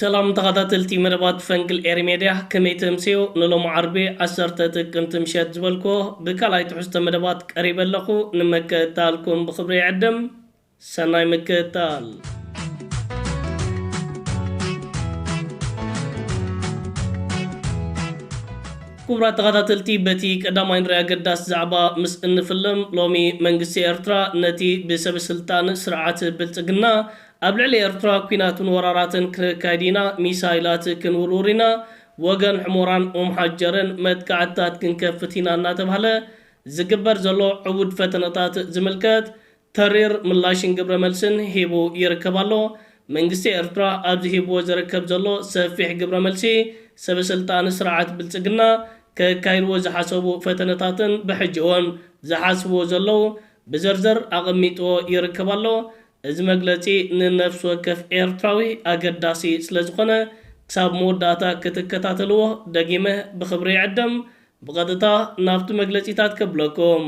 ሰላም ተኻታተልቲ መደባት ፈንቅል ኤሪ ሜድያ ከመይ ተምስዮ ንሎሚ ዓርቢ ዓሰርተ ጥቅምቲ ምሸት ዝበልክዎ ብካልኣይ ትሕዝቶ መደባት ቀሪበ ኣለኹ ንመከታልኩም ብኽብሪ ይዕድም ሰናይ ምክትታል። ክቡራት ተኸታተልቲ በቲ ቀዳማይ ንሪ ኣገዳሲ ዛዕባ ምስ እንፍልም ሎሚ መንግስቲ ኤርትራ ነቲ ብሰበስልጣን ስርዓት ብልጽግና ኣብ ልዕሊ ኤርትራ ኩናትን ወራራትን ክነካይድ ኢና፣ ሚሳይላት ክንውርውር ኢና፣ ብወገን ሑሞራን ኡምሓጀርን መጥቃዕትታት ክንከፍት ኢና እናተብሃለ ዝግበር ዘሎ ዕቡድ ፈተነታት ዝምልከት ተሪር ምላሽን ግብረ መልስን ሂቡ ይርከብ ኣሎ። መንግስቲ ኤርትራ ኣብዚ ሂብዎ ዝርከብ ዘሎ ሰፊሕ ግብረ መልሲ ሰበ ስልጣን ስርዓት ብልጽግና ከካይድዎ ዝሓሰቡ ፈተነታትን ብሕጂ እውን ዝሓስብዎ ዘለዉ ብዝርዝር ኣቐሚጥዎ ይርከብ ኣሎ። እዚ መግለጺ ንነፍሲ ወከፍ ኤርትራዊ ኣገዳሲ ስለዝኾነ ክሳብ መወዳእታ ክትከታተልዎ ደጊመ ብኽብሪ ይዕድም። ብቐጥታ ናብቲ መግለጺታት ከብለኩም።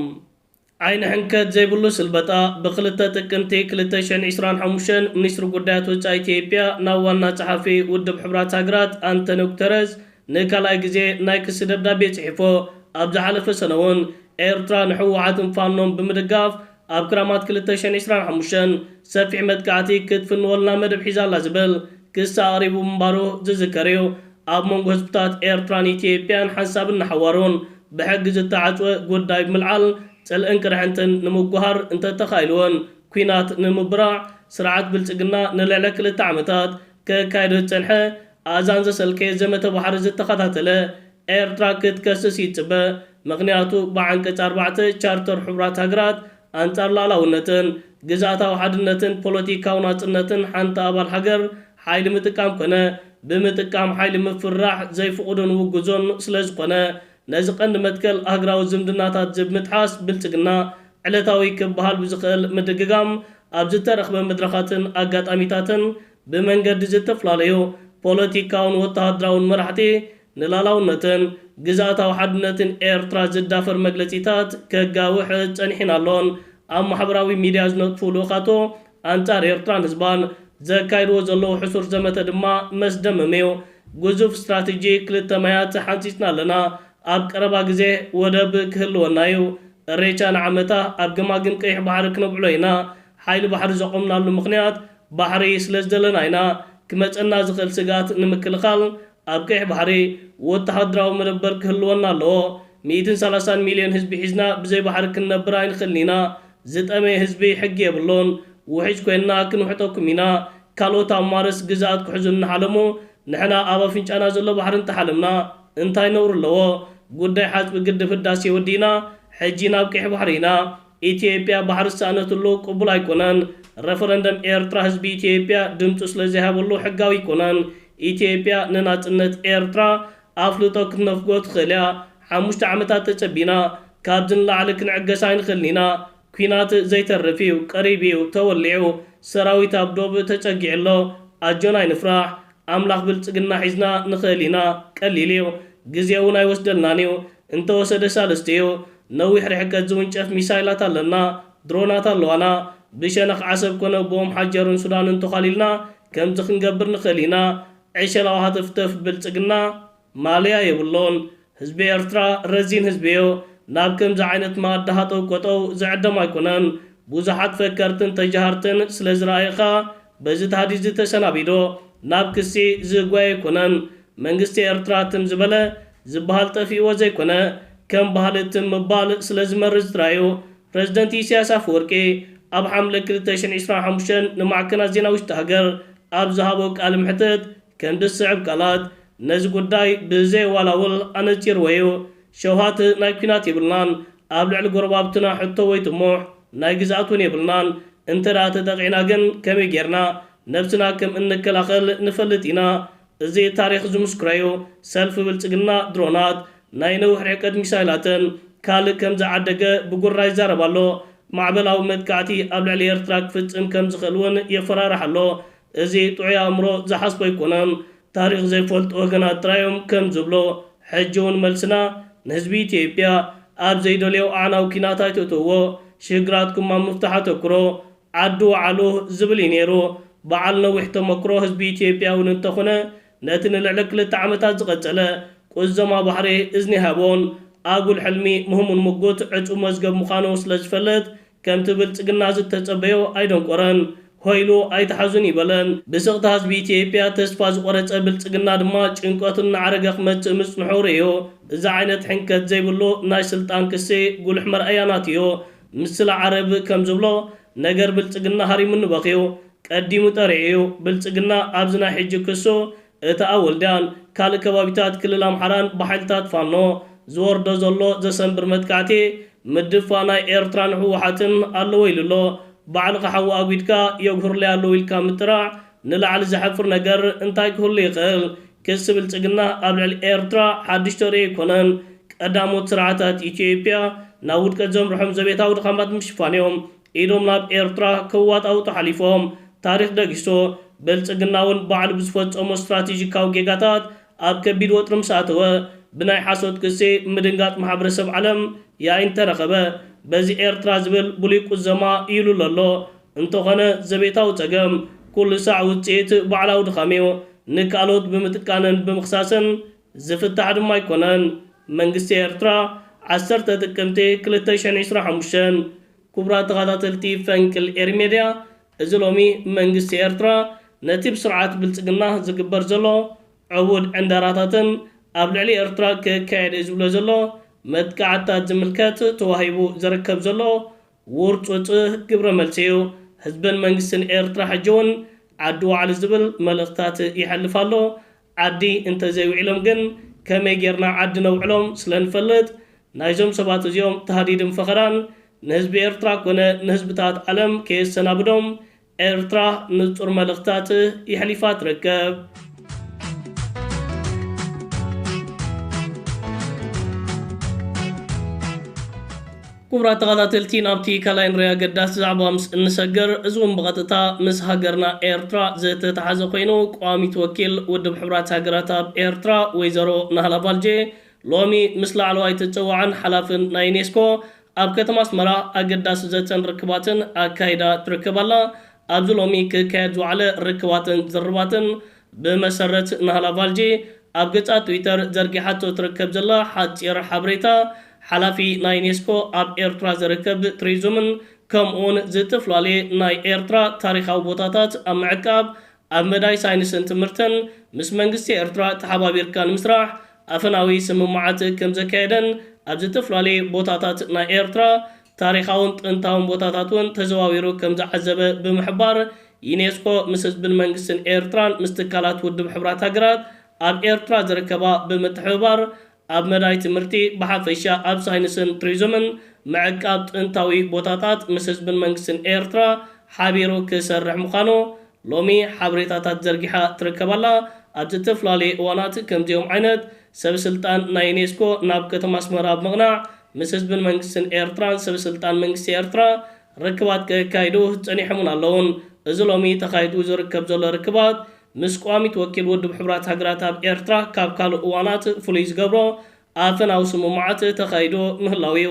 ዓይኒ ሕንከት ዘይብሉ ስልበጣ! ብክልተ ጥቅምቲ ክልተ ሽሕን ዕስራን ሓሙሽተን ሚኒስትሪ ጉዳያት ወጻኢ ኢትዮጵያ ናብ ዋና ጸሓፊ ውድብ ሕቡራት ሃገራት ኣንተንዮ ጉተረዝ ንካልኣይ ግዜ ናይ ክሲ ደብዳቤ ጽሒፎ። ኣብ ዝሓለፈ ሰነ'ውን ኤርትራ ንሕወሓትን ፋኖን ብምድጋፍ ኣብ ክራማት ክልተ ሽሕን ዕስራን ሓሙሽተን ሰፊሕ መጥቃዕቲ ክትፍንወልና መደብ ሒዛ ኣላ ዝብል ክሲ ኣቕሪቡ ምንባሩ ዝዝከር እዩ። ኣብ መንጎ ህዝብታት ኤርትራን ኢትዮጵያን ሓንሳብን ንሓዋሩን ብሕጊ ዝተዓጽወ ጉዳይ ብምልዓል ጽልእን ቅርሕንትን ንምጉሃር እንተተኻኢሉ'ውን ኲናት ንምብራዕ ስርዓት ብልጽግና ንልዕሊ ክልተ ዓመታት ከካይዶ ዝጸንሐ ኣእዛን ዘሰልከየ ዘመተ ባሕሪ ዝተኸታተለ ኤርትራ ክትከስስ ይጽበ ምኽንያቱ ብዓንቀፅ ኣርባዕተ ቻርተር ሕቡራት ሃገራት ኣንፃር ልኣላውነትን ግዝኣታዊ ሓድነትን ፖለቲካዊ ናፅነትን ሓንቲ ኣባል ሃገር ሓይሊ ምጥቃም ኮነ ብምጥቃም ሓይሊ ምፍርራሕ ዘይፍቑድን ውጉዞን ስለዝኾነ ነዚ ቀንዲ መትከል ሃግራዊ ዝምድናታት ዝብምጥሓስ ብልፅግና ዕለታዊ ክብሃል ብዝኽእል ምድግጋም ኣብዝተረኽበ መድረኻትን ኣጋጣሚታትን ብመንገዲ ዝተፈላለዩ ፖለቲካውን ወተሃደራውን መራሕቲ ንላላውነትን ግዝኣታዊ ሓድነትን ኤርትራ ዝዳፈር መግለጺታት ከጋውሕ ጸኒሒን ኣሎን። ኣብ ማሕበራዊ ሚድያ ዝነጥፉ ልኡኻቶ ኣንጻር ኤርትራን ህዝባን ዘካይድዎ ዘለዉ ሕሱር ዘመተ ድማ መስደመም'ዩ። ግዙፍ ስትራተጂ ክልተ ማያት ሓንጺጽና ኣለና። ኣብ ቀረባ ግዜ ወደብ ክህልወና'ዩ። እሬቻ ንዓመታ ኣብ ገማግም ቀይሕ ባሕሪ ክነብዕሎ ኢና። ሓይሊ ባሕሪ ዘቖምናሉ ምኽንያት ባሕሪ ስለ ዝደለና ኢና፣ ክመጸና ዝኽእል ስግኣት ንምክልኻል ኣብ ቀይሕ ባሕሪ ወተሃደራዊ መደበር ክህልወና ኣለዎ። ሚእትን ሰላሳን ሚልዮን ህዝቢ ሒዝና ብዘይ ባሕሪ ክንነብር ኣይንኽእልን ኢና። ዝጠመየ ህዝቢ ሕጊ የብሉን። ውሒጅ ኮይንና ክንውሕጠኩም ኢና። ካልኦት ኣብ ማርስ ግዝኣት ክሕዙ እናሓለሙ ንሕና ኣብ ኣፍንጫና ዘሎ ባሕሪ እንተሓለምና እንታይ ነውሪ ኣለዎ? ጉዳይ ሓጽቢ ግድብ ህዳሴ ወዲእና ሕጂ ናብ ቀይሕ ባሕሪ ኢና። ኢትዮጵያ ባሕሪ ዝሰኣነትሉ ቅቡል ኣይኮነን። ረፈረንደም ኤርትራ ህዝቢ ኢትዮጵያ ድምጹ ስለዘይሃበሉ ሕጋዊ ኣይኮነን። ኢትዮጵያ ንናጽነት ኤርትራ ኣፍልጦ ክትነፍጎ ትኽእል እያ። ሓሙሽተ ዓመታት ተጸቢና። ካብዚ ንላዕሊ ክንዕገስ ኣይንኽእልን ኢና። ኲናት ዘይተርፍ እዩ። ቀሪቡ እዩ። ተወሊዑ። ሰራዊት ኣብ ዶብ ተጸጊዑ ኣሎ። ኣጆና ኣይንፍራሕ። ኣምላኽ ብልጽግና ሒዝና ንኽእል ኢና ቀሊል እዩ ግዜ ውን ኣይወስደልናን እዩ እንተወሰደ ሳልስቲ እዩ ነዊሕ ርሕቀት ዝውንጨፍ ሚሳይላት ኣለና ድሮናት ኣለዋና ብሸነኽ ዓሰብ ኮነ ብኦምሓጀርን ሱዳንን ተዃሊልና ከምዚ ክንገብር ንኽእል ኢና ዕሸላዊ ሃተፍተፍ ብልጽግና ማልያ የብሎን ህዝቢ ኤርትራ ረዚን ህዝቢ እዮ ናብ ከምዚ ዓይነት መኣዲ ሃጠው ቆጠው ዝዕደም ኣይኮነን ቡዙሓት ፈከርትን ተጃሃርትን ስለ ዝረኣየ ከኣ በዚ ታህዲድዚ ተሰናቢዶ ናብ ክሲ ዝጓየ ኣይኮነን መንግስቲ ኤርትራ ትም ዝበለ ዝባሃል ጠፊእዎ ዘይኮነ ከም ባህሊ ትም ምባል ስለ ዝመርዝ ጥራይ እዩ ፕረዚደንት ኢሰያስ ኣፈወርቂ ኣብ ሓምለ ክልተ ሽሕን ዒስራን ሓሙሽተን ንማዕከናት ዜና ውሽጢ ሃገር ኣብ ዝሃቦ ቃልምሕትት ክንዲ ዝስዕብ ቃላት ነዚ ጉዳይ ብዘየዋላውል ኣነጺርዎ እዩ፣ ሸውሃት ናይ ኲናት የብልናን፣ ኣብ ልዕሊ ጎረባብትና ሕቶ ወይ ጥሙሕ ናይ ግዝኣት እውን የብልናን፣ እንተድኣ ተጠቒዕና ግን ከመይ ጌርና ነብስና ከም እንከላኸል ንፈልጥ ኢና፣ እዚ ታሪኽ ዝምስክሮ እዩ፣ ሰልፊ ብልጽግና ድሮናት፣ ናይ ነዊሕ ርሕቀት ሚሳይላትን ካልእ ከም ዝዓደገ ብጉራ ይዛረብ ኣሎ፣ ማዕበላዊ መጥቃዕቲ ኣብ ልዕሊ ኤርትራ ክፍጽም ከም ዝኽእል እውን የፈራርሕ ኣሎ፣ እዚ ጥዑይ ኣእምሮ ዝሓስቦ ኣይኮነን ታሪኽ ዘይፈልጡ ወገናት ጥራይ እዮም ከም ዝብሎ ሕጂ ውን መልስና ንህዝቢ ኢትዮጵያ ኣብ ዘይደልዮ ኣዕናዊ ኲናት ኣይተእትውዎ ሽግራትኩም ኣብ ምፍታሕ ኣተኩሮ ዓዱ ወዓሉ ዝብል እዩ ኔሩ በዓል ነዊሕ ተመክሮ ህዝቢ ኢትዮጵያ ውን እንተኹነ ነቲ ንልዕሊ ክልተ ዓመታት ዝቐጸለ ቁዘማ ባሕሪ እዝኒ ኣይሃቦን ኣጉል ሕልሚ ምህሙን ሙጉት ዕጹው መዝገብ ምዃኑ ስለ ዝፈልጥ ከምቲ ብልጽግና ዝተጸበዮ ኣይደንቆረን። ሆይ ኢሉ ኣይትሓዙኒ በለን። ብስቕታ ህዝቢ ኢትዮጵያ ተስፋ ዝቖረጸ ብልጽግና ድማ ጭንቀቱ እናዓረገ ክመጽእ ምጽንሑ ርእዩ። እዚ ዓይነት ሕንከት ዘይብሉ ናይ ስልጣን ክሲ ጉሉሕ መርኣያ ናቱዮ። ምስላ ዓረብ ከም ዝብሎ ነገር ብልጽግና ሃሪሙኒ በኽዩ። ቀዲሙ ጠሪዑ እዩ። ብልጽግና ኣብዚ ናይ ሕጂ ክሱ እቲ ኣብ ወልድያን ካልእ ከባቢታት ክልል ኣምሓራን ብሓይልታት ፋኖ ዝወርዶ ዘሎ ዘሰንብር መጥቃዕቲ፣ ምድፍፋእ ናይ ኤርትራ ንህወሓትን ኣለዎ ኢሉ ኣሎ። ባዕልኻ ሓዊ ኣጒድካ የጉህሩለይ ኣለዉ ኢልካ ምጥራዕ ንላዕሊ ዘሕፍር ነገር እንታይ ክህሉ ይኽእል? ክሲ ብልጽግና ኣብ ልዕሊ ኤርትራ ሓድሽ ተርእዮ ኣይኮነን። ቀዳሞት ስርዓታት ኢትዮጵያ ናብ ውድቀት ዘምርሖም ዘቤታዊ ድኻማት ንምሽፋን እዮም። ኢዶም ናብ ኤርትራ ከዋጣውጡ ሓሊፎም። ታሪኽ ደጊሶ፣ ብልጽግና'ውን ባዕሉ ብዝፈጸሞ ስትራቴጂካዊ ጌጋታት ኣብ ከቢድ ወጥሪ ምስ ኣተወ፣ ብናይ ሓሶት ክሲ ምድንጋጽ ማሕበረሰብ ዓለም ያኢን ተረኸበ። በዚ ኤርትራ ዝብል ብሉይ ቁዘማ ይልሎ ኣሎ። እንተኾነ ዘቤታዊ ጸገም ኩሉ ሳዕ ውጽኢት ባዕላዊ ድኻም'ዩ። ንካልኦት ብምጥቃንን ብምኽሳስን ዝፍታሕ ድማ ኣይኮነን። መንግስቲ ኤርትራ ዓሰርተ ጥቅምቲ ክልተ ሽሕን ዕስራን ሓሙሽተን ኩቡራት ተኻታተልቲ ፈንቅል ኤሪ ሜድያ እዚ ሎሚ መንግስቲ ኤርትራ ነቲ ብስርዓት ብልጽግና ዝግበር ዘሎ ዕቡድ ዕንደራታትን ኣብ ልዕሊ ኤርትራ ክካየድ እዩ ዝብሎ ዘሎ መጥቃዕትታት ዝምልከት ተዋሂቡ ዘረከብ ዘሎ ውርጹጽ ግብረ መልሲ እዩ ህዝብን መንግስትን ኤርትራ ሕጂ ውን ዓዲ ዋዕሉ ዝብል መልእኽትታት ይሐልፍ ኣሎ ዓዲ እንተዘይውዒሎም ግን ከመይ ጌርና ዓዲ ነውዕሎም ስለንፈልጥ ናይዞም ሰባት እዚኦም ታህዲድን ፈኸራን ንህዝቢ ኤርትራ ኮነ ንህዝብታት ዓለም ከየሰናብዶም ኤርትራ ንጹር መልእኽትታት የሕሊፋ ትርከብ። ኩቡራት ተኻታተልቲ ናብቲ ካልኣይ ንረይ ኣገዳሲ ዛዕባ ምስ እንሰገር እዚ ውን ብቐጥታ ምስ ሃገርና ኤርትራ ዝተታሓዘ ኮይኑ ቋሚት ወኪል ውድብ ሕቡራት ሃገራት ኣብ ኤርትራ ወይዘሮ ናህላ ባልጄ ሎሚ ምስ ላዕለዋይ ተጸዋዕን ሓላፍን ናይ ዩኔስኮ ኣብ ከተማ ኣስመራ ኣገዳሲ ዘተን ርክባትን ኣካይዳ ትርከብ ኣላ። ኣብዚ ሎሚ ክካየድ ዝወዓለ ርክባትን ዝርርባትን ብመሰረት ናህላቫልጂ ኣብ ገጻ ትዊተር ዘርጊሓቶ ትርከብ ዘላ ሓጺር ሓበሬታ፣ ሓላፊ ናይ ዩኔስኮ ኣብ ኤርትራ ዝርከብ ትሪዙምን ከምኡውን ዝትፍላልየ ናይ ኤርትራ ታሪኻዊ ቦታታት ኣብ ምዕቃብ ኣብ መዳይ ሳይንስን ትምህርትን ምስ መንግስቲ ኤርትራ ተሓባቢርካ ንምስራሕ ኣፈናዊ ስምምዓት ከምዘካየደን ኣብ ዝትፍላልየ ቦታታት ናይ ኤርትራ ታሪኻውን ጥንታውን ቦታታት እውን ተዘዋዊሩ ከም ዝዓዘበ ብምሕባር፣ ዩኔስኮ ምስ ህዝብን መንግስትን ኤርትራን ምስ ትካላት ውድብ ሕቡራት ሃገራት ኣብ ኤርትራ ዝርከባ ብምትሕብባር ኣብ መዳይ ትምህርቲ ብሓፈሻ ኣብ ሳይንስን ቱሪዝምን ምዕቃብ ጥንታዊ ቦታታት ምስ ህዝብን መንግስትን ኤርትራ ሓቢሩ ክሰርሕ ምዃኑ ሎሚ ሓበሬታታት ዘርጊሓ ትርከብ ኣላ። ኣብ ዝተፈላለየ እዋናት ከምዚኦም ዓይነት ሰበስልጣን ናይ ዩኔስኮ ናብ ከተማ ኣስመራ ብምቕናዕ ምስ ህዝብን መንግስትን ኤርትራን ሰብ ስልጣን መንግስቲ ኤርትራ ርክባት ከካይዱ ጸኒሖምን ኣለዉን። እዚ ሎሚ ተኻይዱ ዝርከብ ዘሎ ርክባት ምስ ቋሚት ወኪል ውድብ ሕቡራት ሃገራት ኣብ ኤርትራ ካብ ካልእ እዋናት ፍሉይ ዝገብሮ ኣፈናዊ ስምምዓት ተኻይዱ ምህላዉ እዩ።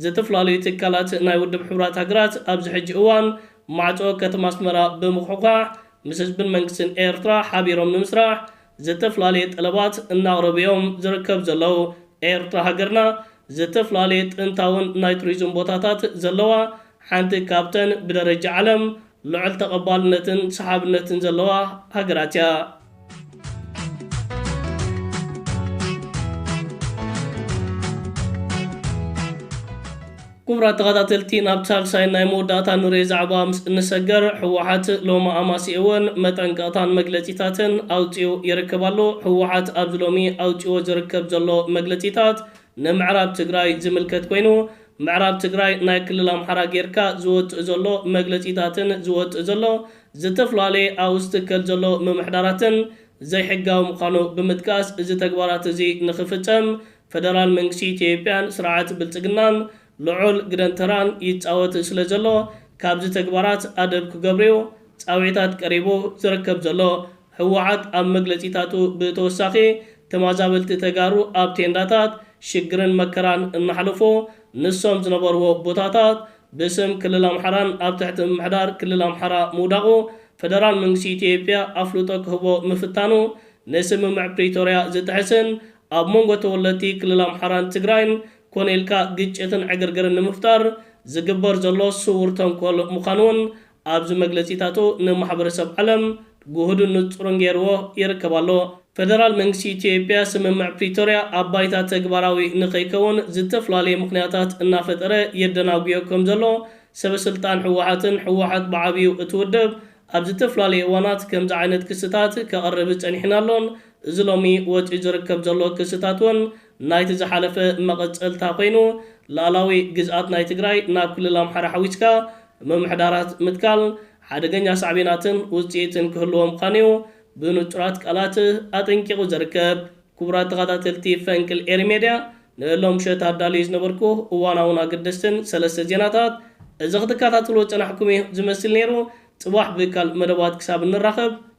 ዝትፍላለዩ ትካላት ናይ ውድብ ሕቡራት ሃገራት ኣብዚ ሕጂ እዋን ማዕጾ ከተማ ኣስመራ ብምኹሕኳሕ ምስ ህዝብን መንግስትን ኤርትራ ሓቢሮም ንምስራሕ ዝተፍላለየ ጠለባት እናቕረቡ እዮም ዝርከብ ዘለዉ። ኤርትራ ሃገርና ዝተፍላለየ ጥንታውን ናይ ቱሪዝም ቦታታት ዘለዋ ሓንቲ ካብተን ብደረጃ ዓለም ልዑል ተቐባልነትን ሰሓብነትን ዘለዋ ሃገራት እያ። ኩቡራት ተኻታተልቲ ናብ ሳልሳይን ናይ መወዳእታን ንሬ ዛዕባ ምስ እንሰገር ህወሓት ሎሚ ኣማሲእወን መጠንቀቕታን መግለጺታትን ኣውጺኡ ይርክብ ኣሎ። ህወሓት ኣብዚ ሎሚ ኣውጺእዎ ዝርክብ ዘሎ መግለጺታት ንምዕራብ ትግራይ ዝምልከት ኮይኑ ምዕራብ ትግራይ ናይ ክልል ኣምሓራ ጌርካ ዝወጽእ ዘሎ መግለጺታትን ዝወጽእ ዘሎ ዝተፍላለየ ኣብኡ ዝትከል ዘሎ ምምሕዳራትን ዘይሕጋዊ ምዃኑ ብምጥቃስ እዚ ተግባራት እዚ ንኽፍጸም ፈደራል መንግስቲ ኢትዮጵያን ስርዓት ብልፅግናን ልዑል ግደን ተራን ይፃወት ስለ ዘሎ ካብዚ ተግባራት ኣደብ ክገብርዩ ፃውዒታት ቀሪቡ ዝርከብ ዘሎ ህወሓት ኣብ መግለፂታቱ ብተወሳኺ ተማዛበልቲ ተጋሩ ኣብ ቴንዳታት ሽግርን መከራን እናሕለፉ ንሶም ዝነበርዎ ቦታታት ብስም ክልል ኣምሓራን ኣብ ትሕቲ ምምሕዳር ክልል ኣምሓራ ምውዳቑ ፈደራል መንግስቲ ኢትዮጵያ ኣፍልጦ ክህቦ ምፍታኑ ንስምምዕ ፕሪቶርያ ዝጥሕስን ኣብ መንጎ ተወለድቲ ክልል ኣምሓራን ትግራይን ኮነ ኢልካ ግጭትን ዕግርግርን ንምፍጣር ዝግበር ዘሎ ስዉር ተንኮል ምዃኑ'ውን ኣብዚ መግለጺታቱ ንማሕበረሰብ ዓለም ግሁድን ንጹርን ገይርዎ ይርከብ ኣሎ። ፈደራል መንግስቲ ኢትዮጵያ ስምምዕ ፕሪቶርያ ኣብ ባይታ ተግባራዊ ንከይከውን ዝተፍላለየ ምኽንያታት እናፈጠረ የደናጉዮ ከም ዘሎ ሰበ ስልጣን ህወሓትን ህወሓት ብዓብዩ እቲ ውድብ ኣብ ዝተፍላለየ እዋናት ከምዚ ዓይነት ክስታት ከቕርብ ጸኒሕን ኣሎን እዚ ሎሚ ወጺኡ ዝርከብ ዘሎ ክስታት ውን ናይቲ ዝሓለፈ መቐጸልታ ኮይኑ ልኣላዊ ግዝኣት ናይ ትግራይ ናብ ክልል ኣምሓራ ሓዊስካ ምምሕዳራት ምትካል ሓደገኛ ሳዕቤናትን ውጽኢትን ክህልዎ ምዃኑዩ ብንጹራት ቃላት ኣጠንቂቑ ዝርከብ። ክቡራት ተኸታተልቲ ፈንቅል ኤሪ ሜድያ ንሎምሸት ኣዳልየ ዝነበርኩ እዋናውን ኣገደስትን ሰለስተ ዜናታት እዚ ክትከታተልዎ ዝጸናሕኩምዩ ዝመስል ነይሩ ጽባሕ ብካልእ መደባት ክሳብ እንራኸብ